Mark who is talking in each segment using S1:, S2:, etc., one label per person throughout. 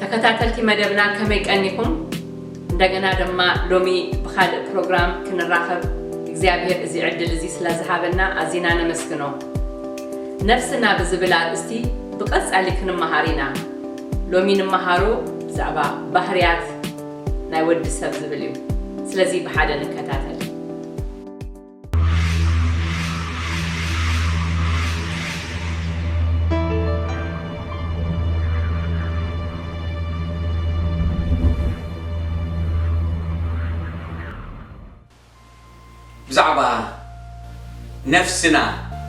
S1: ተከታተልቲ መደብና ከመይ ቀኒኩም እንደገና ድማ ሎሚ ብካልእ ፕሮግራም ክንራከብ እግዚኣብሔር እዚ ዕድል እዚ ስለዝሃበና ኣዚና ነመስግኖ ነፍስና ብዝብል ኣርእስቲ ብቀጻሊ ክንመሃር ኢና ሎሚ ንመሃሮ ብዛዕባ ባህርያት ናይ ወዲ ሰብ ዝብል እዩ ስለዚ ብሓደ ንከታተል።
S2: ብዛዕባ ነፍስና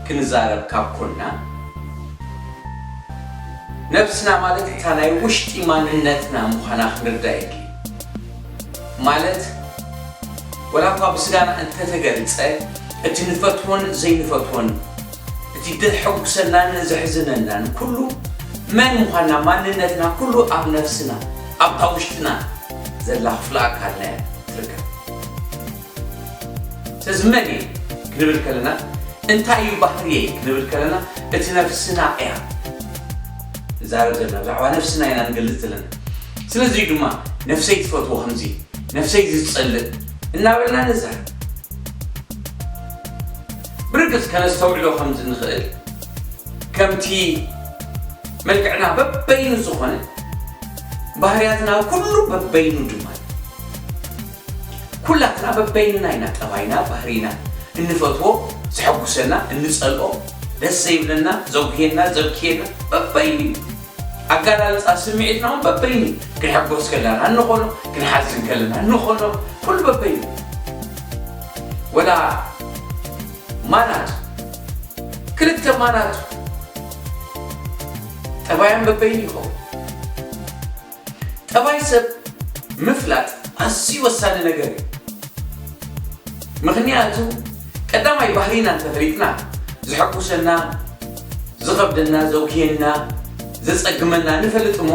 S2: ክንዛረብ ካብ ኮና፣ ነብስና ማለት እታ ናይ ውሽጢ ማንነትና ምዃና ክንርዳእ የድሊ። ማለት ወላ እኳ ብስጋና እንተተገልጸ እቲ ንፈትዎን ዘይንፈትዎን እቲ ደሕጉሰናን ዘሕዝነናን ኩሉ መን ምዃንና ማንነትና ኩሉ ኣብ ነፍስና ኣብታ ውሽጥና ዘላ ክፍለ ኣካልና እያ ትርከብ። ስለዚ መን እየ ክንብል ከለና እንታይ እዩ ባህርየይ ክንብል ከለና እቲ ነፍስና እያ ንዛረብ ዘለና ብዛዕባ ነፍስና ኢና ንገልጽ ዘለና ስለዚ እዩ ድማ ነፍሰይ ትፈትዎ ከምዚ ነፍሰይ ዝጸልእ እናበልና ንዛር ብርግጽ ከነስተውዕሎ ከም ዝንኽእል ከምቲ መልክዕና በበይኑ ዝኾነ ባህርያትና ኩሉ በበይኑ ድማ ኩላትና በበይንና ኢና ጠባይና ባህሪና እንፈትዎ ዘሐጉሰና እንጸልኦ ደስ ዘይብለና ዘጉህየና ዘብክየና በበይኑ እዩ ኣጋላልጻ ስምዒትና ውን በበይኑ እዩ ክንሕጎስ ከላና እንኾኖ ክንሓዝን ከለና እንኾኖ ኩሉ በበይኑ ወላ ማናቱ ክልተ ማናቱ ጠባያን በበይኑ ይኸውን ጠባይ ሰብ ምፍላጥ ኣዝዩ ወሳኒ ነገር እዩ። ምኽንያቱ ቀዳማይ ባህሪና እንተፈሊጥና ዘሐጉሰና፣ ዝኸብደና፣ ዘጉህየና፣ ዘጸግመና ንፈልጥ እሞ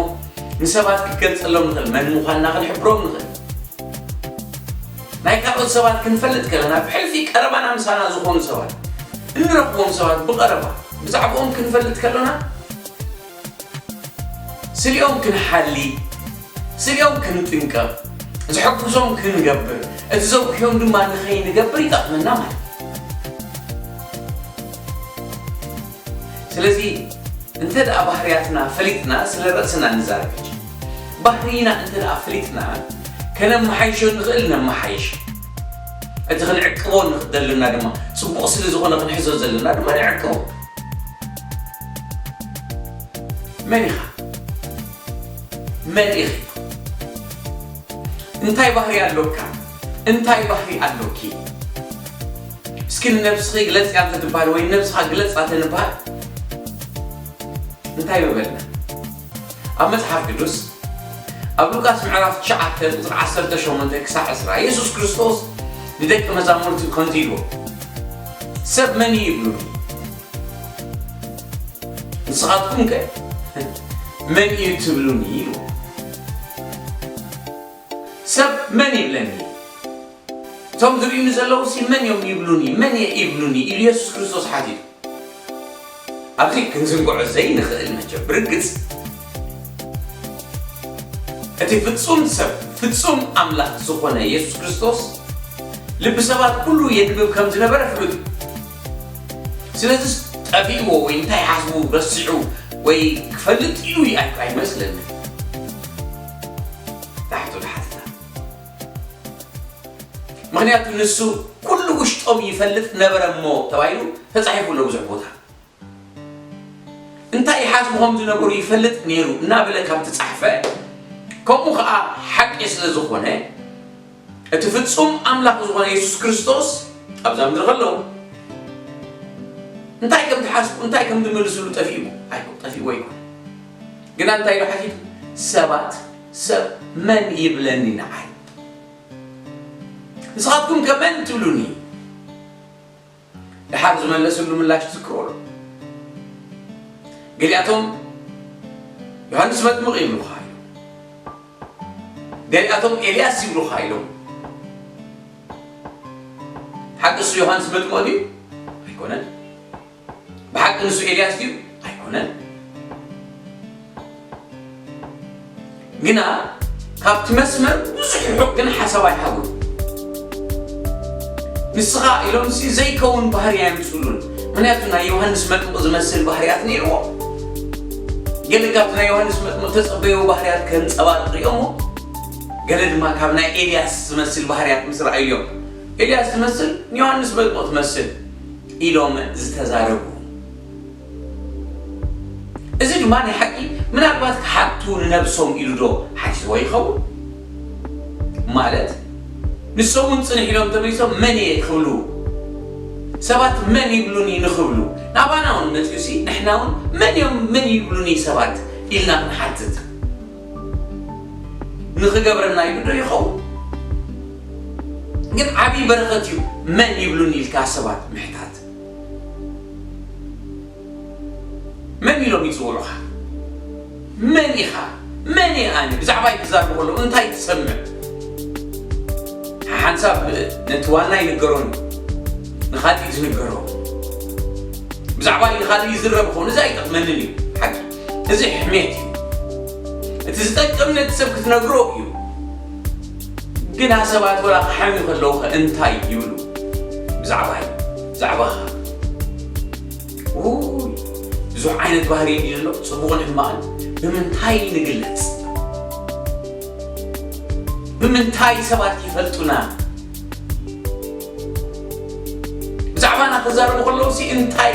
S2: ንሰባት ክንገልጸሎም ንኽእል፣ መን ምዃንና ክንሕብሮም ንኽእል። ናይ ካልኦት ሰባት ክንፈልጥ ከለና ብሕልፊ ቀረባና ምሳና ዝኾኑ ሰባት፣ እንረኽቦም ሰባት ብቐረባ ብዛዕብኦም ክንፈልጥ ከሎና፣ ስሌኦም ክንሓሊ፣ ስሌኦም ክንጥንቀቕ፣ ዝሕግዞም ክንገብር፣ እቲ ዘጉህዮም ድማ ንኸይንገብር ይጠቕመና ማለት እዩ። ስለዚ እንተ ደኣ ባህርያትና ፈሊጥና ስለ ርእስና ንዛረብ ሕጂ። ባህርይና እንተ ደኣ ፈሊጥና ከነመሓይሾ እንኽእል ነመሓይሽ። እቲ ክንዕቅቦ ንደለና ድማ ጽቡቕ ስለ ዝኾነ ክንሕዞ ዘለና ድማ ንዕቅቦ። መን ኢኻ? መን ኢኺ? እንታይ ባህሪ ኣሎካ? እንታይ ባህሪ ኣሎኪ? እስኪ ንነብስኺ ግለጽያ እንተትበሃል ወይ ንነብስኻ ግለጻ ተንበሃል እንታይ ምበልና? ኣብ መጽሓፍ ቅዱስ ኣብ ሉቃስ ምዕራፍ ትሽዓተ ቁጽሪ ዓሰርተ ሸሞንተ ክሳዕ ዕስራ የሱስ ክርስቶስ ንደቂ መዛሙርቱ ከምዚ ኢልዎም ሰብ መን እዩ ይብሉኒ ንስኻትኩም ከ መን እዩ ትብሉኒ ኢሉ ሰብ መን ይብለኒ እቶም ዝርእዩኒ ዘለዉ ሲ መን እዮም ይብሉኒ መን እየ ይብሉኒ ኢሉ የሱስ ክርስቶስ ሓቲቱ ኣብዚ ክንዝንግዖ ዘይንኽእል መቸም ብርግጽ እቲ ፍጹም ሰብ ፍጹም ኣምላኽ ዝኾነ የሱስ ክርስቶስ ልቢ ሰባት ኩሉ የንብብ ከም ዝነበረ ፍሉጥ እዩ። ስለዚስ ጠፊእዎ ወይ እንታይ ሓስቡ ረሲዑ ወይ ክፈልጥ ኢሉ ኣይመስለንን። ምኽንያቱ ንሱ ኩሉ ውሽጦም ይፈልጥ ነበረ እሞ ተባሂሉ ተጻሒፉ ኣሎ ብዙሕ ቦታ። እንታይ ይሓስቡ ከም ዝነበሩ ይፈልጥ ነይሩ እናበለ ካብ ተጻሕፈ ከምኡ ከኣ ሓቂ ስለ ዝኾነ እቲ ፍጹም ኣምላኽ ዝኾነ የሱስ ክርስቶስ ኣብዛ ምድሪ ከሎ እንታይ ከም ትሓስቡ እንታይ ከም ትመልስሉ ጠፊእዎ ኣይኮ ጠፊእዎ ይኮን ግና እንታይ ኢሉ ሓቲቱ ሰባት ሰብ መን ይብለኒ ንዓይ ንስኻትኩም ከ መን ትብሉኒ? ደሓር ዝመለስሉ ምላሽ ትዝክርዎዶ? ገሊኣቶም ዮሃንስ መጥምቕ ይብሉኻ ኢሎም፣ ገሊኣቶም ኤልያስ ይብሉኻ ኢሎም። ሓቂ እሱ ዮሃንስ መጥምቕ ድዩ? ኣይኮነን። ብሓቂ ንሱ ኤልያስ ድዩ? ኣይኮነን። ግና ካብቲ መስመር ብዙሕ ርሑቕ ግን ሓሳብ ኣይሃቡን። ንስኻ ኢሎምሲ ዘይከውን ባህሪ ኣየምጽሉን። ምክንያቱ ናይ ዮሃንስ መጥምቕ ዝመስል ባህርያት ነይርዎ። ገለ ካብቲ ናይ ዮሃንስ መጥምቕ ተጸበዮ ባህርያት ከንጸባርቕ እዮሞ ገለ ድማ ካብ ናይ ኤልያስ ዝመስል ባህርያት ምስ ረኣዩ እዮም። ኤልያስ ትመስል፣ ንዮሃንስ መጥምቕ ትመስል። ኢሎም ዝተዛረቡ። እዚ ድማ ናይ ሓቂ ምናልባት ክሓቱ ንነብሶም ኢሉ ዶ ሓቲትዎ ይኸውን? ማለት ንሶም እውን ጽንሕ ኢሎም ተመሊሶም መን እየ ክብሉ ሰባት መን ይብሉኒ ንኽብሉ ናባና እውን መጺኡሲ ንሕና እውን መን እዮም መን ይብሉኒ ሰባት ኢልና ክንሓትት ንኽገብረና ኢሉ ዶ ይኸውን? ግን ዓብዪ በረኸት እዩ መን ይብሉኒ ኢልካ ሰባት ምሕታት። መን ኢሎም ይፅውዑኻ? መን ኢኻ? መን እየ ኣነ? ብዛዕባይ ክዛረቡ ከለዉ እንታይ ትሰምዕ? ሓሓንሳብ ነቲ ዋና ይንገሮን ንኻልእ እዩ ዝንገሮ። ብዛዕባይ ንኻልእ ይዝረብ ኾኑ እዚ ኣይጠቕመንን እዩ ሓቂ እዚ ሕሜት እዩ እቲ ዝጠቅም ነቲ ሰብ ክትነግሮ እዩ ግና ሰባት ወላ ክሓሚ ከለዉ ከ እንታይ ይብሉ ብዛዕባ እዩ ብዛዕባኻ ብዙሕ ዓይነት ባህሪ እዩ ዘሎ ፅቡቕን ሕማቕን ብምንታይ ንግለፅ ብምንታይ ሰባት ይፈልጡና ብዛዕባና ክዛረቡ ከለዉ ሲ እንታይ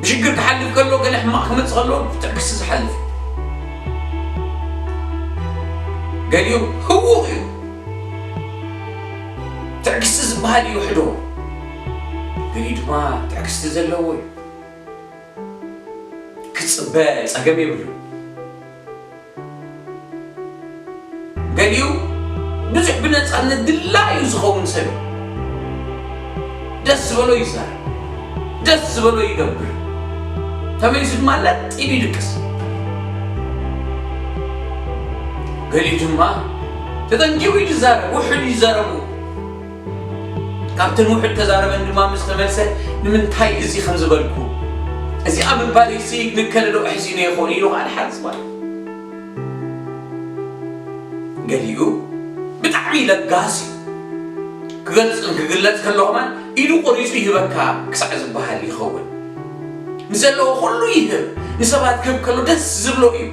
S2: ብሽግር ክሓልፍ ከሎ ገለ ሕማቕ ክመጽእ ከሎ ብትዕግስቲ ዝሓልፍ እዩ። ገሊኡ ህዉኽ እዩ። ትዕግስቲ ዝበሃል ይውሕዶ፣ ገሊኡ ድማ ትዕግስቲ ዘለዎ እዩ። ክጽበ ጸገም የብሉን። ገሊኡ ብዙሕ ብነጻነት ድላዩ ዝኸውን ሰብ እዩ። ደስ ዝበሎ ይዛረብ፣ ደስ ዝበሎ ይገብር፣ ተመሊሱ ድማ ለጥ ኢሉ ይድቅስ። ገሊኡ ድማ ተጠንቂቑ እዩ ዝዛረብ፣ ውሑድ ይዛረቡ። ካብተን ውሑድ ተዛረበን ድማ ምስ ተመልሰ፣ ንምንታይ እዚ ከም ዝበልኩ፣ እዚኣ ምባለይሲ ንከለዶ ኣሕዚኑዮ ይኸውን ኢሉ ኸኣ ድሓር ዝበለ። ገሊኡ ብጣዕሚ ለጋስ እዩ። ክገልጽን ክግለጽ ከሎ ኸማን ኢዱ ቁሪጹ ይህበካ ክሳዕ ዝበሃል ይኸውን። ንዘለዎ ኩሉ ይህብ፣ ንሰባት ክህብ ከሎ ደስ ዝብሎ እዩ።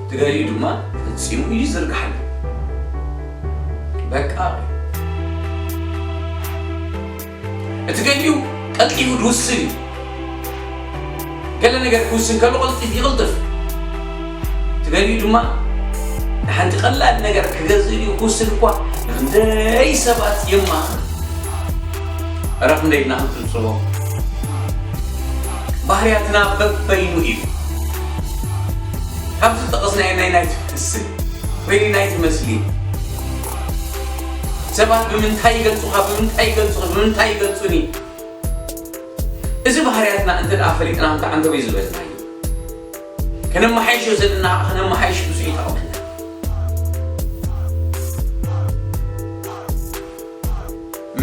S2: ትገሊኡ ድማ ፈጺሙ ኢዱ ይዝርግሓለይ። በቃ በይ። እቲ ገሊኡ ቀልጢፉ ድውስን እዩ። ገለ ነገር ክውስን ከሎ ቅልጢፍ ይቕልጥፍ። እቲ ገሊኡ ድማ ንሓንቲ ቀላል ነገር ክገዝእ ድዩ ክውስን እኳ ንክንደይ ሰባት የማኽር። እረ ክንደይ ድና ክንጽብጽቦ። ባህርያትና በበይኑ እዩ። ካብ ዝጠቐስናዮ ናይ ናይቲ ክስብ ወይ ናይቲ ምስሊ ሰባት ብምንታይ ይገልጹኻ፣ ብምንታይ ይገልጹኺ፣ ብምንታይ ይገልጹኒ፣ እዚ ባህርያትና እንተ ደኣ ፈሊጥና እንታይ ዓንተብ እዩ ዝበልናዮ? ከነመሓይሾ ዘለና ከዓ ከነመሓይሽ ብዙሕ ይጠቕመና።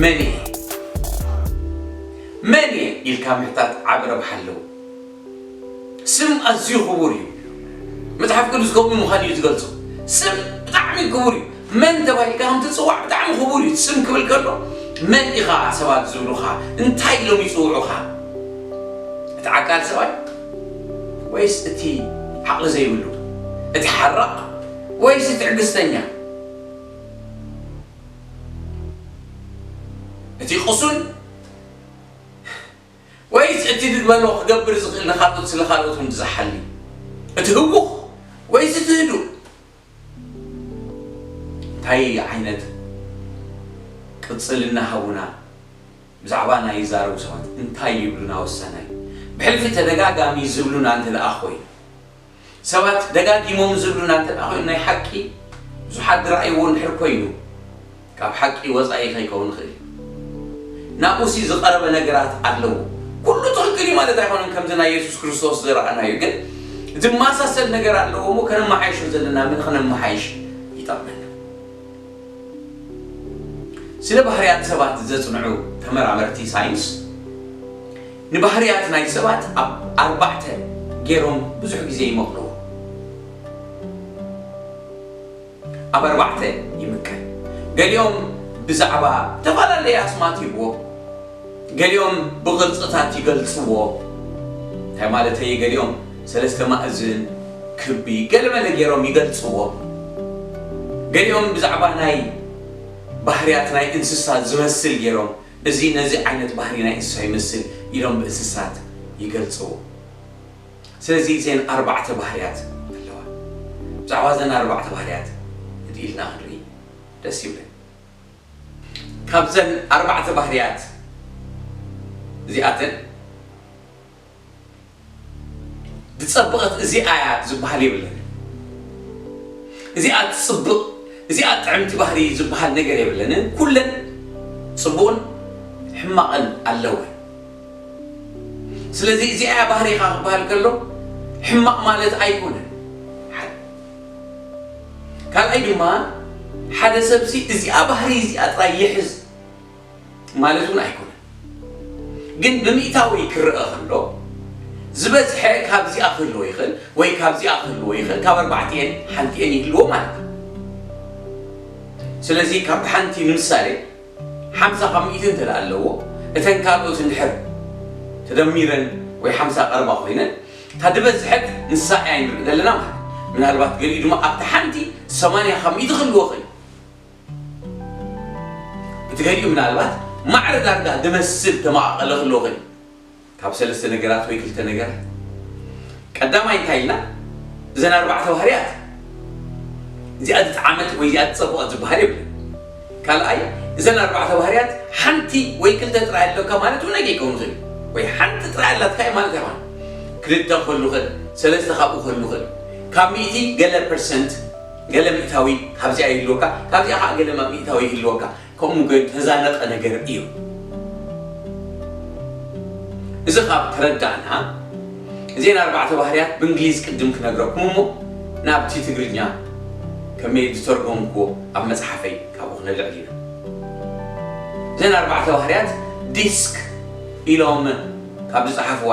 S2: መን እየ መን እየ ኢልካ ምሕታት ዓቢ ረብሓ ኣለዎ። ስም ኣዝዩ ክቡር እዩ መጽሓፍ ቅዱስ ከምኡ ምዃኑ እዩ ዝገልጾ ስም ብጣዕሚ ክቡር እዩ መን ተባሂልካ ከም ትጽዋዕ ብጣዕሚ ክቡር እዩ ስም ክብል ከሎ መን ኢኻ ሰባት ዝብሉኻ እንታይ ኢሎም ይጽውዑኻ እቲ ዓቃል ሰብኣይ ወይስ እቲ ዓቕሊ ዘይብሉ እቲ ሓራቕ ወይስ እቲ ትዕግስተኛ እቲ ቅሱን ወይስ እቲ ድልበሎ ክገብር ዝኽእል ንኻልኦት ስለ ካልኦት ውን ዝሓሊ? እቲ ህውኽ ወይስ እቲ ህዱእ? እንታይ ዓይነት ቅጽልና ሃቡና ብዛዕባና ይዛረቡ ሰባት እንታይ ይብሉና ወሳናይ ብሕልፊ ተደጋጋሚ ዝብሉና እንተደኣ ኮይኑ። ሰባት ደጋጊሞም ዝብሉና እንተድኣ ኮይኑ ናይ ሓቂ ብዙሓት ዝረኣይዎ እንድሕር ኮይኑ ካብ ሓቂ ወጻኢ ከይከውን ይኽእል እዩ። ናብኡሲ ዝቐረበ ነገራት ኣለዎ። ኩሉ ትኽክል እዩ ማለት ኣይኮነን ከምዚ ናይ የሱስ ክርስቶስ ዝረኣናዩ ግን ዝመሳሰል ነገር ኣለዎ እሞ ከነመሓይሾ ዘለና ምን ኽነመሓይሽ ይጠቕመና። ስለ ባህርያት ሰባት ዘጽንዑ ተመራመርቲ ሳይንስ፣ ንባህርያት ናይ ሰባት ኣብ ኣርባዕተ ገይሮም ብዙሕ ግዜ ይመቕልዎ። ኣብ ኣርባዕተ ይምቀል። ገሊኦም ብዛዕባ እተፈላለየ ኣስማት ይህብዎ፣ ገሊኦም ብቕርጽታት ይገልጽዎ፣ እንታይ ማለተይ እየ፣ ገሊኦም ሰለስተ ማእዝን፣ ክቢ፣ ገለመለ ገይሮም ይገልጽዎ፣ ገሊኦም ብዛዕባ ናይ ባህርያት ናይ እንስሳ ዝመስል ገይሮም እዚ ነዚ ዓይነት ባህሪ ናይ እንስሳ ይመስል ኢሎም ብእንስሳት ይገልጽዎ። ስለዚ እዘን ኣርባዕተ ባህርያት ኣለዋ። ብዛዕባ እዘን ኣርባዕተ ባህርያት ህድእ ኢልና ክንርኢ ደስ ይብለኒ። ካብዘን ኣርባዕተ ባህርያት እዚኣተን ዝጸበቐት እዚኣ እያ ዝበሃል የብለንን። እዚኣ ትጽብቕ፣ እዚኣ ጥዕምቲ ባህሪ ዝበሃል ነገር የብለንን። ኩለን ጽቡቕን ሕማቕን ኣለወን። ስለዚ እዚኣ እያ ባህሪኻ ክበሃል ከሎ ሕማቕ ማለት ኣይኮነን። ሓደ ካልኣይ ድማ ሓደ ሰብሲ እዚኣ ባህሪ እዚኣ ጥራይ ይሕዝ ማለት እውን ኣይኮነን። ግን ብምእታዊ ክረኣ ከሎ ዝበዝሐ ካብዚኣ ክህልዎ ይኽእል ወይ ካብዚኣ ክህልዎ ይኽእል፣ ካብ ኣርባዕቲኤን ሓንቲኤን ይህልዎ ማለት እዩ። ስለዚ ካብ ሓንቲ ንምሳሌ ሓምሳ ካብ ሚእቲ እንተ ኣለዎ እተን ካልኦት እንድሕር ተደሚረን ወይ ሓምሳ ቀረባ ኮይነን እታ ድበዝሐት ንሳ እያ ንርኢ ዘለና ማለት ምናልባት ገሊኡ ድማ ኣብቲ ሓንቲ ሰማንያ ካብ ሚእቲ ክህልዎ ይኽእል እዩ። እቲ ገሊኡ ምናልባት ማዕረ ዳርጋ ዝመስል ተመቓቐለ ክህልዎ ይኽእል እዩ። ካብ ሰለስተ ነገራት ወይ ክልተ ነገራት። ቀዳማይ እንታይ ኢልና እዘን ኣርባዕተ ባህርያት እዚኣ ዝጠዓመት ወይ እዚኣ ዝጸበቐት ዝበሃል የብሉን። ካልኣይ እዘን ኣርባዕተ ባህርያት ሓንቲ ወይ ክልተ ጥራይ ኣለካ ማለት እውን ኣይከይከውን ይኽእል እዩ። ወይ ሓንቲ ጥራይ ኣላትካ እዩ ማለት ኣይኮነን። ክልተ ክህሉ ይኽእል፣ ሰለስተ ካብኡ ክህሉ ይኽእል እዩ። ካብ ሚእቲ ገለ ፐርሰንት። ገለ ሚእታዊ ካብዚኣ ይህልወካ፣ ካብዚኣ ኸኣ ገለ ሚእታዊ ይህልወካ፣ ከምኡ እተዛነቐ ነገር እዩ። እዚ ኻብ ተረዳእና፣ እዘን ኣርባዕተ ባህርያት ብእንግሊዝ ቅድም ክነግረኩም እሞ ናብቲ ትግርኛ ከመይ ዝተርጎምክዎ ኣብ መጽሓፈይ ካብኡ ክነልዕል ኢና። እዘን ኣርባዕተ ባህርያት ዲስክ ኢሎም ካብ ዝጸሓፍዋ፣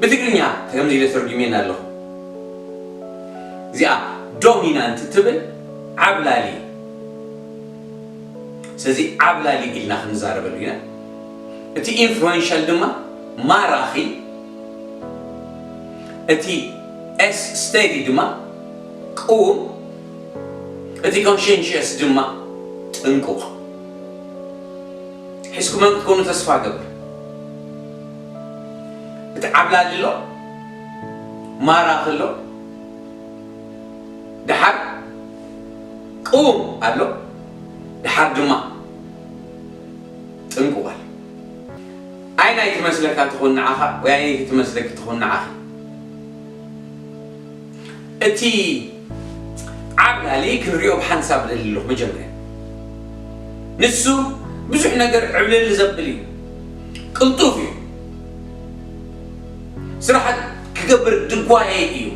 S2: ብትግርኛ ከምዚ ኢለ ተርጉሜና ኣለኹ እዚኣ ዶሚናንት ትብል ዓብላሊ እያ ስለዚ ዓብላሊ ኢልና ክንዛረበሉ ኢና እቲ ኢንፍሉዌንሻል ድማ ማራኺ እቲ ኤስ ስተዲ ድማ ቅውም እቲ ኮንሽንሽስ ድማ ጥንቁቕ ሒዝኩመን ክትኮኑ ተስፋ ገብር እቲ ዓብላሊ ኣሎ ማራኺ ኣሎ ደሓር ቅዉም ኣሎ ደሓር ድማ ጥንቁቕ ኣሎ። ኣየናይ ትመስለካ ትኹን ንዓኻ ወይ ኣየነይቲ ትመስለኪ ትኹን ንዓኺ? እቲ ዓብላሊ ክንሪኦ ብሓንሳብ እደሊ ኣለኹ መጀመርያ ንሱ ብዙሕ ነገር ዕብልል ዘብል እዩ ቅልጡፍ እዩ ስራሓት ክገብር ድጓየ እዩ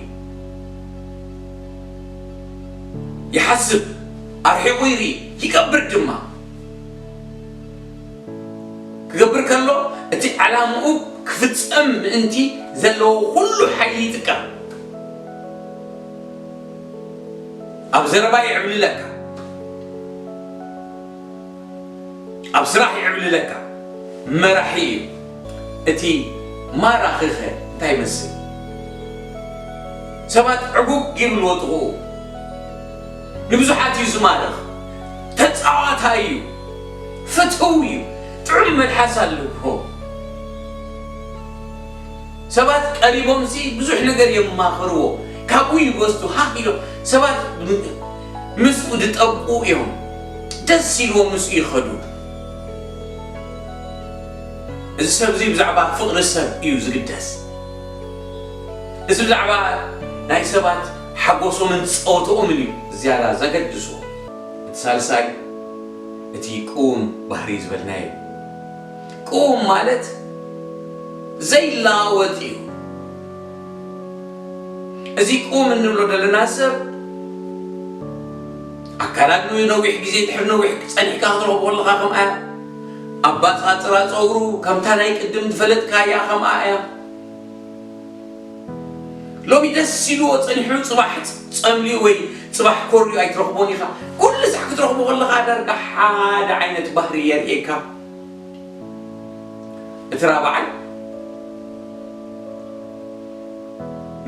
S2: ይሓስብ ኣርሒቑ ይርኢ ይገብር ድማ ክገብር ከሎ እቲ ዕላምኡ ክፍጸም ምእንቲ ዘለዎ ኩሉ ሓይሊ ይጥቀም። ኣብ ዘረባ ይዕብልለካ፣ ኣብ ስራሕ ይዕብልለካ መራሒ እዩ። እቲ ማራኺኸ እንታይ ይመስል? ሰባት ዕጉግ ይብልዎ ጥቕኡ። ንብዙሓት እዩ ዝማርኽ። ተጻዋታይ እዩ። ፍትው እዩ ጥዑም መልሓስ ኣለዎ ሰባት ቀሪቦም ሲ ብዙሕ ነገር የማኽርዎ ካብኡ ይወስዱ ሃህ ኢሎም ሰባት ምስኡ ድጠብቁ እዮም ደስ ኢልዎ ምስኡ ይኸዱ እዚ ሰብ እዚ ብዛዕባ ፍቕሪ ሰብ እዩ ዝግደስ እዚ ብዛዕባ ናይ ሰባት ሓጎሶምን ፀወትኦምን እዩ ዝያዳ ዘገድሶ እቲ ሳልሳይ እቲ ቅዉም ባህርይ ዝበልናዮ እዩ። ቅዉም ማለት ዘይለዋወጥ እዩ። እዚ ቅዉም እንብሎ ዘለና ሰብ ኣከዳድንኡ ነዊሕ ግዜ ድሕሪ ነዊሕ ጸኒሕካ ክትረኽቦ ኣለኻ ከምኣ እያ። ኣባጻጽራ ጸጉሩ ከምታ ናይ ቅድም ዝፈለጥካያ ከምኣ እያ። ሎሚ ደስ ኢልዎ ጸኒሑ ጽባሕ ጸልዩ ወይ ጽባሕ ኮርዩ ኣይትረኽቦን ኢኻ። ኩሉ ሳዕ ክትረኽቦ ከለኻ ዳርጋ ሓደ ዓይነት ባህሪ የርእየካ። እቲ ራብዓይ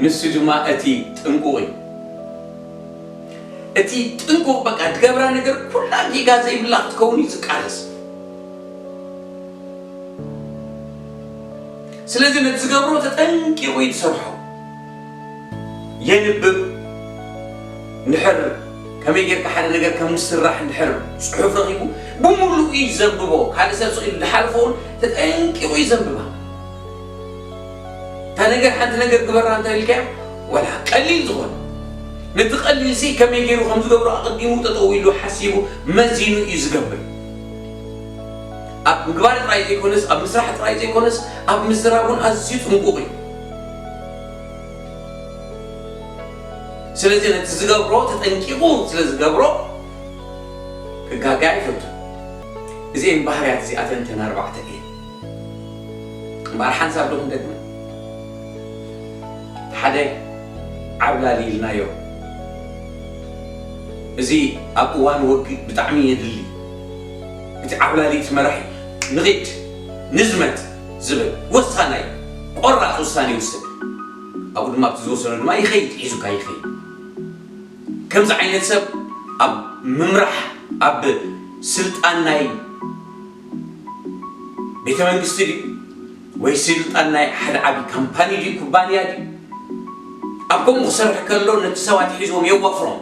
S2: ንሱ ድማ እቲ ጥንቁቕ እዩ። እቲ ጥንቁቕ በቃ ትገብራ ነገር ኩላ ጌጋ ዘይብላ ክትከውን እዩ ዝቃለስ። ስለዚ ነቲ ዝገብሮ ተጠንቂቑ እዩ ዝሰርሖ። የንብብ እንድሕር ከመይ ጌርካ ሓደ ነገር ከም ዝስራሕ እንድሕር ጽሑፍ ረኺቡ ብምሉኡ እዩ ዘንብቦ። ካልእ ሰብ ስቕ ኢሉ ዝሓልፎ እውን ተጠንቂቑ እዩ ዘንብባ። እታ ነገር ሓንቲ ነገር ግበራ እንተኢልካዮ ወላ ቀሊል ዝኾነ ነቲ ቀሊልሲ ከመይ ገይሩ ከም ዝገብሮ ኣቐዲሙ ጠጠው ኢሉ ሓሲቡ መዚኑ እዩ ዝገብር። ኣብ ምግባር ጥራይ ዘይኮነስ ኣብ ምስራሕ ጥራይ ዘይኮነስ ኣብ ምዝራብ ውን ኣዝዩ ጥንቁቕ እዩ። ስለዚ ነቲ ዝገብሮ ተጠንቂቑ ስለ ዝገብሮ ክጋገ ኣይፈቱን። እዚኤን ባህርያት እዚኣተን እተን ኣርባዕተ እየን። እምበኣር ሓንሳብ ዶ ክንደግመን እቲ ሓደ ዓብላሊ ኢልናዮ እዚ ኣብ እዋን ወግእ ብጣዕሚ የድሊ። እቲ ዓብላሊ'ቲ መራሒ ንኺድ ንዝመት ዝብል ወሳናይ ቆራጽ ውሳኔ ይውስን። ኣብኡ ድማ ኣብቲ ዝወሰኖ ድማ ይኸይድ ሒዙካ ይኸይድ። ከምዚ ዓይነት ሰብ ኣብ ምምራሕ ኣብ ስልጣን ናይ ቤተ መንግስቲ ድዩ? ወይ ስልጣን ናይ ሓደ ዓቢ ካምፓኒ ድዩ ኩባንያ ድዩ ኣብ ከምኡ ክሰርሕ ከሎ ነቲ ሰብ ኣትሒዞም የዋፍሮም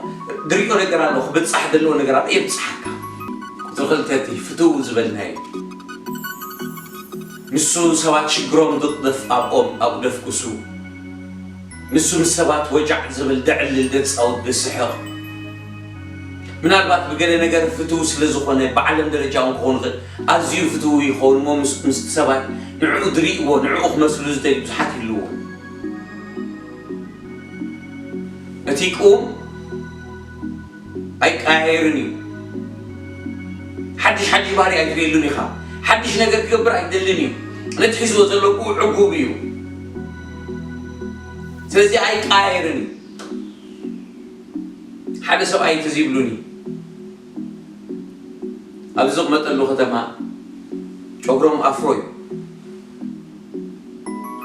S2: ድሪኦ ነገር ኣሎ ክብጻሕ ደለዎ ነገር ኣሎ የብጻሓካ ቁጽሪ ክልተ እቲ ፍትው ዝበልናዮ ንሱ ሰባት ሽግሮም ድቅደፍ ኣብኦም ኣብኡ ደፍኩሱ ንሱ ምስ ሰባት ወጃዕ ዝብል ደዕልል ደጻውት ድስሕቅ ምናልባት ብገለ ነገር ፍትው ስለ ዝኾነ ብዓለም ደረጃ ውን ክኾን ይኽእል ኣዝዩ ፍትው ይኸውን እሞ ምስ ምስቲ ሰብኣይ ንዕኡ ዝሪእዎ ንዕኡ ክመስሉ ዝደልዩ ብዙሓት ይህልውዎ። እቲ ቅውም ኣይቀያየርን እዩ። ሓድሽ ሓድሽ ባህሪ ኣይትሪእሉን ኢኻ። ሓድሽ ነገር ክገብር ኣይደልን እዩ። ነቲ ሒዝዎ ዘሎ ቅውም ዕጉብ እዩ። ስለዚ ኣይቀያየርን እዩ። ሓደ ሰብኣይ እንተዘይብሉኒ። ኣብ ዝቕመጠሉ ከተማ ጨጉሮም ኣፍሮ እዩ።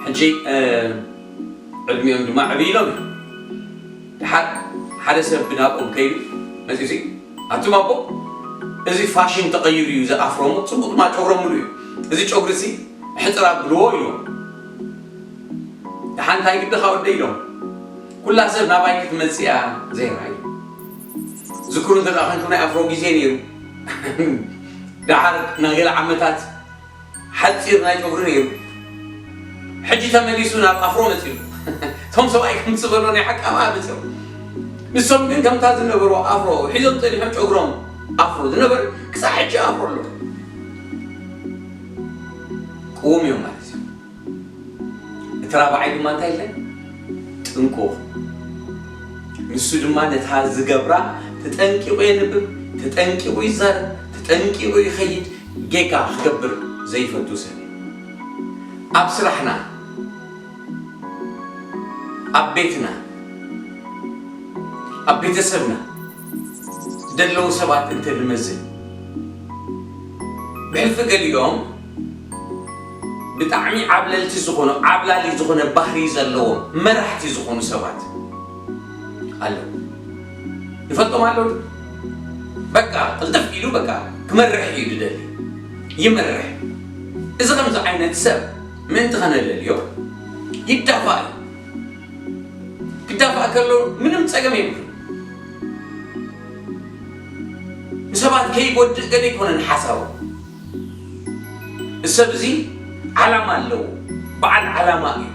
S2: ሕጂ ዕድሚኦም ድማ ዕብይ ኢሎም እዮም። ደሓር ሓደ ሰብ ብናብኦም ከይዱ መጺኡሲ ኣቱም ኣቦ እዚ ፋሽን ተቐይሩ እዩ እዚ ኣፍሮ እሞ ጽቡቕ ድማ ጨጉሮም ምሉእ እዩ። እዚ ጨጉሪሲ ሕጽር ኣብልዎ ኢሉዎም። ደሓን እንታይ ግድኻ ወደይ ኢሎም ኩላ ሰብ ናባይ ክትመጽእ እያ ዘይራ ኢሎም። ዝክሩ እንተድኣ ኮንኩም ናይ ኣፍሮ ግዜ ነይሩ ድሓር ናይ ገለ ዓመታት ሓጺር ናይ ጨጉሪ ነይሩ ሕጂ ተመሊሱ ናብ ኣፍሮ መጺኡ እቶም ሰብኣይ ከም ዝበሎ ናይ ሓቂ ኣብኣ መጺኦም ንሶም ግን ከምታ ዝነበሩ ኣፍሮ ሒዞም ጸኒሖም ጨጉሮም ኣፍሮ ዝነበረ ክሳብ ሕጂ ኣፍሮ ኣሎ ቅውም እዮም ማለት እዩ እቲ ራብዓይ ድማ እንታይ ኢለ ጥንቁቕ ንሱ ድማ ነታ ዝገብራ ተጠንቂቑ የንብብ ተጠንቂቑ ይዛረብ ተጠንቂቑ ይኸይድ ጌጋ ክገብር ዘይፈቱ ሰብ ኣብ ስራሕና ኣብ ቤትና ኣብ ቤተሰብና ደለዉ ሰባት እንተ ንመዝን ብሕልፊ ገሊኦም ብጣዕሚ ዓብለልቲ ዝኾኑ ዓብላሊ ዝኾነ ባህሪ ዘለዎም መራሕቲ ዝኾኑ ሰባት ኣለዉ ንፈልጦም ኣለዉ ዶ በቃ ቅልጥፍ ኢሉ በቃ ክመርሕ እዩ ዝደሊ ይመርሕ እዚ ከምዚ ዓይነት ሰብ ምእንቲ ከነለልዮ ይዳፋእ እዩ ክዳፋእ ከሎ ምንም ፀገም የብሉ ንሰባት ከይጎድእ ገለ ኣይኮነን ሓሳቡ እዚ ሰብ እዚ ዓላማ ኣለዎ በዓል ዓላማ እዩ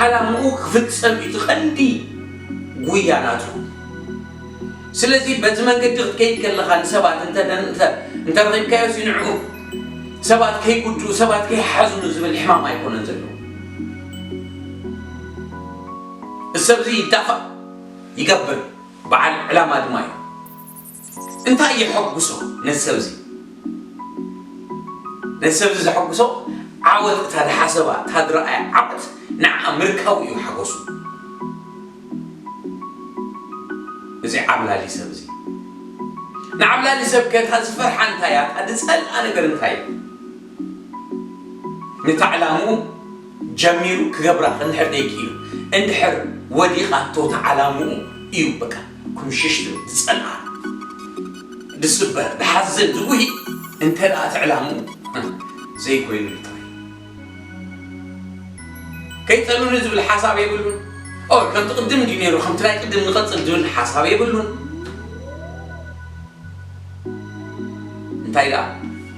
S2: ዓላምኡ ክፍጸም እዩ እቲ ቀንዲ ጉያ ናቱ ስለዚ በቲ መንገዲ ክትከይድ ከለኻ ንሰባት እንተ እንተ እንተረኺብካዮሲ ንዕኡ ሰባት ከይጉድኡ ሰባት ከይሓዝኑ ዝብል ሕማም ኣይኮነን ዘለዎ እዚ ሰብ እዚ ይዳፋእ ይገብር በዓል ዕላማ ድማ እዩ እንታይ የሐጉሶ ነዚ ሰብ'ዚ? ነዚ ሰብ'ዚ ዘሐጉሶ ዓወት እታ ዝሓሰባ፣ እታ ዝረኣያ ዓወት ንዓኣ ምርካቡ እዩ ሓጎሱ። እዚ ዓብላሊ ሰብ'ዚ። ንዓብላሊ ሰብ'ከ እታ ዝፈርሓ እንታይ እያ? እታ ዝጸልኣ ነገር እንታይ እዩ? ነታ ዕላምኡ፣ ጀሚሩ ክገብራ እንድሕር ደይኪኢሉ እንድሕር ወዲቃቶ ተዓላምኡ እዩ በቃ ኩምሽሽ ዝብል ድጸንዓ ድስበር ድሓዝን ድጉሂ እንተ ደኣ እቲ ዕላምኡ ዘይኮይኑሉ ጥራይ ከይጠሉኒ ዝብል ሓሳብ የብሉን ኦር ከምቲ ቅድም እንድዩ ነይሩ ከምቲ ናይ ቅድም ንቀጽል ዝብል ሓሳብ የብሉን እንታይ ደኣ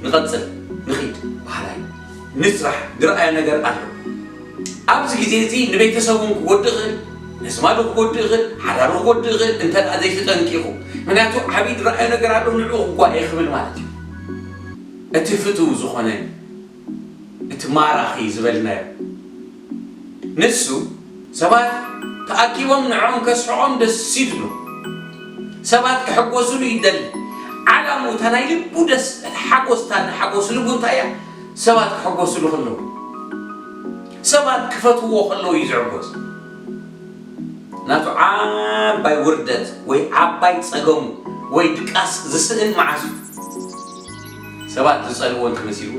S2: ንቀጽል ንኺድ በሃላይ። ንጽባሕ ዝረኣዮ ነገር ኣሎ። ኣብዚ ግዜ እዚ ንቤተሰቡን ክጎድእ ይኽእል፣ ነዝማዱ ክጎድእ ይኽእል፣ ሓዳሩ ክጎድእ ይኽእል እንተ ዘይተጠንቂቑ። ምክንያቱ ዓብይ ዝረኣዮ ነገር ኣሎ ንዕኡ ክጓየ ክብል ማለት እዩ። እቲ ፍትው ዝኾነ እቲ ማራኺ ዝበልናዮ። ንሱ፣ ሰባት ተኣኪቦም ንዕኦም ከስሕቖም ደስ ይብሎ። ሰባት ክሕጎሱሉ ይደሊ። ዓላምኡ፣ እታ ናይ ልቡ ደስ፣ እታ ሓጎስ፣ እታ ንሓጎስ ልቡ እንታይ እያ? ሰባት ክሕጎሱሉ ከለዉ፣ ሰባት ክፈትዉዎ ከለዉ እዩ ዝዕጎስ። ናቱ ዓባይ ውርደት ወይ ዓባይ ጸገሙ ወይ ድቃስ ዝስእን መዓስ እዩ? ሰባት ዝጸልእዎ እንተ መሲልዎ?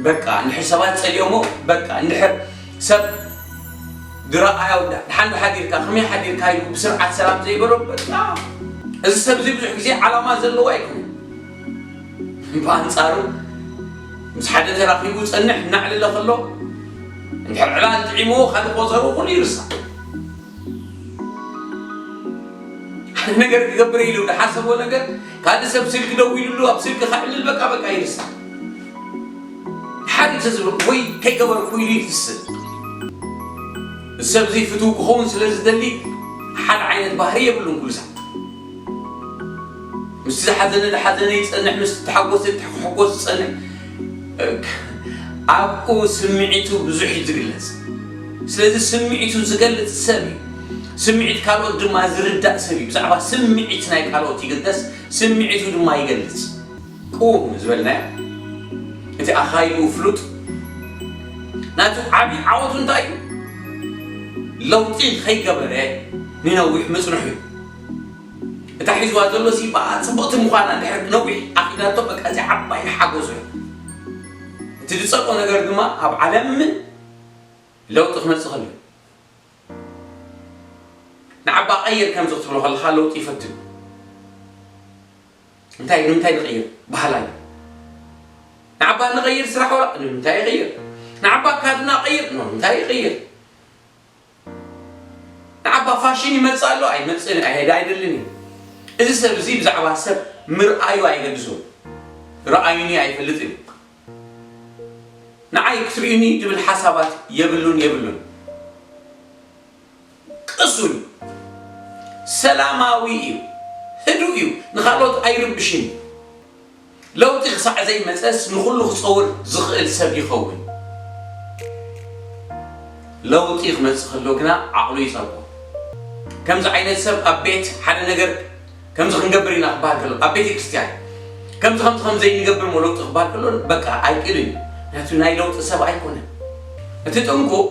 S2: በቃ እንድሕር ሰባት ጸሊኦሞ በቃ እንድሕር ሰብ ድረኣያ ወዳ ድሓን ሓዲርካ ከመይ ሓዲርካ ኢሉ ብስርዓት ሰላም ዘይበሎ በቃ እዚ ሰብ እዚ ብዙሕ ግዜ ዓላማ ዘለዎ ኣይኮነ ብኣንጻሩ ምስ ሓደ ተራኺቡ ጸንሕ እናዕለለ ከሎ እንድሕር ዕላል ጥዒምዎ ካልእ ቆጸሩ ኩሉ ይርሳዕ ሓደ ነገር ክገብር ኢሉ ዝሓሰቦ ነገር ካልእ ሰብ ስልኪ ደዊሉሉ ኣብ ስልኪ ከዕልል በቃ በቃ ይርሳዕ ሓዲ ተዝብሎ ወይ ከይገበረ ኩይኑ ይፍስህ ሰብ እዙይ ፍትው ክኸውን ስለ ዝደሊ ሓድ ዓይነት ባህሪ የብሉን ኩሉ ሰብ ምስቲ ዝሓዘነ ዝሓዘነ ይፀንሕ ምስቲ ተሓጎሰ ተሕጎስ ዝፀንሕ ኣብኡ ስምዒቱ ብዙሕ እዩ ዝግለፅ ስለዚ ስምዒቱ ዝገልፅ ሰብ እዩ ስምዒት ካልኦት ድማ ዝርዳእ ሰብ እዩ ብዛዕባ ስምዒት ናይ ካልኦት ይግደስ ስምዒቱ ድማ ይገልፅ ቁም ዝበልናዮ እቲ ኣኻይድኡ ፍሉጥ ናቱ ዓቢ ዓወቱ እንታይ እዩ ለውጢ ከይገበረ ንነዊሕ ምጽንሑ እዩ እታ ሒዝዋ ዘሎ ሲባኣ ጽብቕቲ ምዃና ድሕሪ ነዊሕ ኣኺዳቶ በቃ እዚ ዓባይ ሓጎሱ እዩ እቲ ዝጸልኦ ነገር ድማ ኣብ ዓለም ለውጢ ክመጽእ ከሎ እዩ ንዓባ ቀይር ከምዚ ክትብሎ ከለኻ ለውጢ ይፈቱ እዩ እንታይ ንምንታይ ንቕይር በሃላይ እየ። ንዓባ ንቐይር ስራሕ ወላ ንምንታይ ይቕይር፣ ንዓባ ካድና ቀይር ንምንታይ ይቕይር፣ ንዓባ ፋሽን ይመጽእ ኣሎ ኣይመጽእን ኣይሄደ ኣይደልን እዩ። እዚ ሰብ እዚ ብዛዕባ ሰብ ምርኣዩ ኣይገድሶን ረኣዩኒ ኣይፈልጥን እዩ። ንዓይ ክትርእዩኒ ትብል ሓሳባት የብሉን የብሉን። ቅሱን እዩ። ሰላማዊ እዩ። ህዱእ እዩ። ንኻልኦት ኣይርብሽን እዩ። ለውጢ ክሳዕ ዘይመጸስ ንኹሉ ክጸውር ዝኽእል ሰብ ይኸውን። ለውጢ ክመጽእ ከሎ ግና ዓቕሉ ይጸልዎ። ከምዚ ዓይነት ሰብ ኣብ ቤት ሓደ ነገር ከምዚ ክንገብር ኢና ክበሃል ከሎ፣ ኣብ ቤተ ክርስቲያን ከምዚ ከምዚ ከም ዘይንገብር እሞ ለውጢ ክበሃል ከሎ በቃ ኣይክእልን እዩ። ምክንያቱ ናይ ለውጢ ሰብ ኣይኮነን። እቲ ጥንቁቕ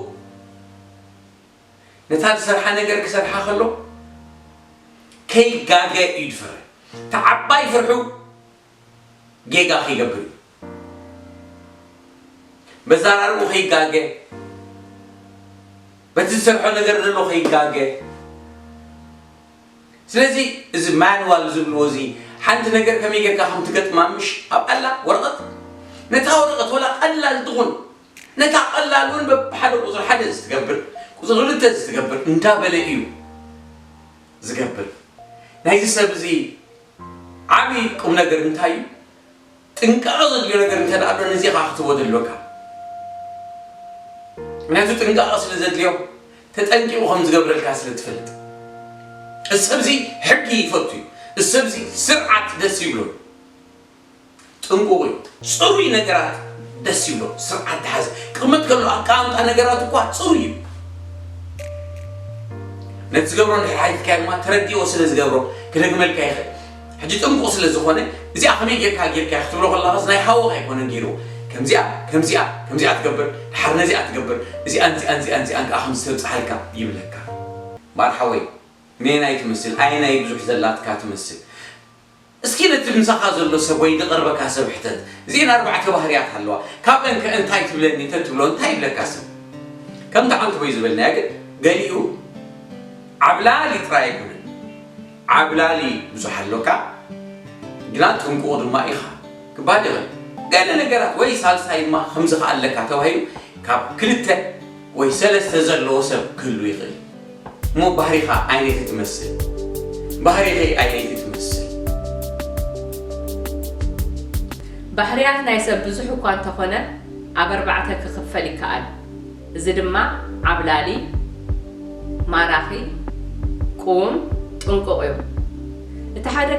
S2: ነታ ዝሰርሓ ነገር ክሰርሓ ከሎ ከይጋገ እዩ ዝፈርሕ እቲ ዓባይ ፍርሑ ጌጋ ከይገብር እዩ መዛራርኡ ከይጋገ በቲ ዝሰርሖ ነገር ዘሎ ከይጋገ ስለዚ እዚ ማንዋል ዝብልዎ እዚ ሓንቲ ነገር ከመይ ጌርካ ከም ትገጥማ ምሽ ኣብ ኣላ ወረቐት ነታ ወረቐት ወላ ቀላል ትኹን ነታ ቀላል እውን በብሓደ ቁፅሪ ሓደ ዝትገብር ቁፅሪ ክልተ ዝትገብር እንዳበለ እዩ ዝገብር ናይዚ ሰብ እዚ ዓብዪ ቁምነገር እንታይ እዩ ጥንቃቐ ዘድልዮ ነገር እንተ ኣሎ ነዚ ኢኻ ክትቦ ዘድልወካ ምክንያቱ ጥንቃቐ ስለ ዘድልዮ ተጠንቂቑ ከም ዝገብረልካ ስለ ትፈልጥ እዚ ሰብዚ ሕጊ ይፈቱ እዩ እዚ ሰብዚ ስርዓት ደስ ይብሎ ጥንቁቕ እዩ። ጽሩይ ነገራት ደስ ይብሎ፣ ስርዓት ዝሓዘ ክቕመጥ ከሎ ኣቀማምጣ ነገራቱ እኳ ጽሩይ እዩ። ነቲ ዝገብሮ እንድሕር ሓቲትካዮ ድማ ተረዲኦ ስለ ዝገብሮ ክደግመልካ ይኽእል። ሕጂ ጥንቁቕ ስለ ዝኾነ እዚኣ ከመይ ጌርካ ጌርካያ ክትብሎ ከለኻስ ናይ ሓውኻ ኣይኮነን ጌርዎ። ከምዚኣ ከምዚኣ ከምዚኣ ትገብር ድሓር ነዚኣ ትገብር እዚኣን እዚኣን እዚኣን እዚኣን ከኣ ከምዚ ተብጽሓልካ ይብለካ። እምበኣር ሓወይ ነየናይ ትመስል ኣየናይ ብዙሕ ዘላትካ ትመስል? እስኪ ነቲ ምሳኻ ዘሎ ሰብ ወይ ድቕርበካ ሰብ ሕተት። እዚኤን ኣርባዕተ ባህርያት ኣለዋ። ካብእን ከ እንታይ ትብለኒ እንተ ትብሎ እንታይ ይብለካ ሰብ? ከምቲ ሓንቲ ወይ ዝበልናያ ግን ገሊኡ ዓብላሊ ጥራይ ኣይኮነን። ዓብላሊ ብዙሕ ኣሎካ ግና ጥንቁቕ ድማ ኢኻ ክበሃል ይኽእል። ገለ ነገራት ወይ ሳልሳይ ድማ ከምዚ ከ ኣለካ ተባሂሉ ካብ ክልተ ወይ ሰለስተ ዘለዎ ሰብ ክህሉ ይኽእል። እሞ ባህሪኻ ዓይነይ ክትመስል ባህሪኺ ዓይነይ ክትመስል።
S1: ባህርያት ናይ ሰብ ብዙሕ እኳ እንተኾነ ኣብ ኣርባዕተ ክኽፈል ይከኣል። እዚ ድማ ዓብላሊ፣ ማራኺ፣ ቁውም፣ ጥንቁቕ እዩ። እቲ ሓደ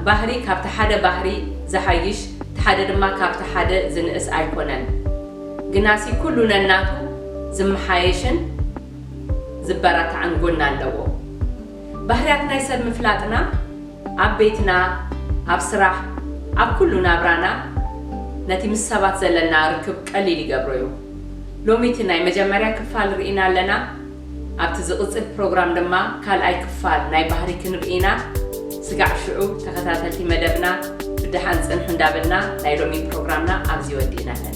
S1: ባህሪ ካብቲ ሓደ ባህሪ ዝሓይሽ እቲ ሓደ ድማ ካብቲ ሓደ ዝንእስ ኣይኮነን። ግናሲ ኩሉ ነናቱ ዝመሓየሽን፣ ዝበራታዕን ጎኒ ኣለዎ። ባህርያት ናይ ሰብ ምፍላጥና ኣብ ቤትና፣ ኣብ ስራሕ፣ ኣብ ኩሉ ናብራና ነቲ ምስ ሰባት ዘለና ርክብ ቀሊል ይገብሮ'ዩ። ሎሚ እቲ ናይ መጀመርያ ክፋል ርኢና ኣለና። ኣብቲ ዝቕጽል ፕሮግራም ድማ ካልኣይ ክፋል ናይ ባህሪ ክንርኢ ኢና። ስጋዕ ሽዑ ተኸታተልቲ መደብና ብደሓን ጽንሑ እንዳበልና ናይ ሎሚ ፕሮግራምና ኣብዚ ወዲእና ኣለና።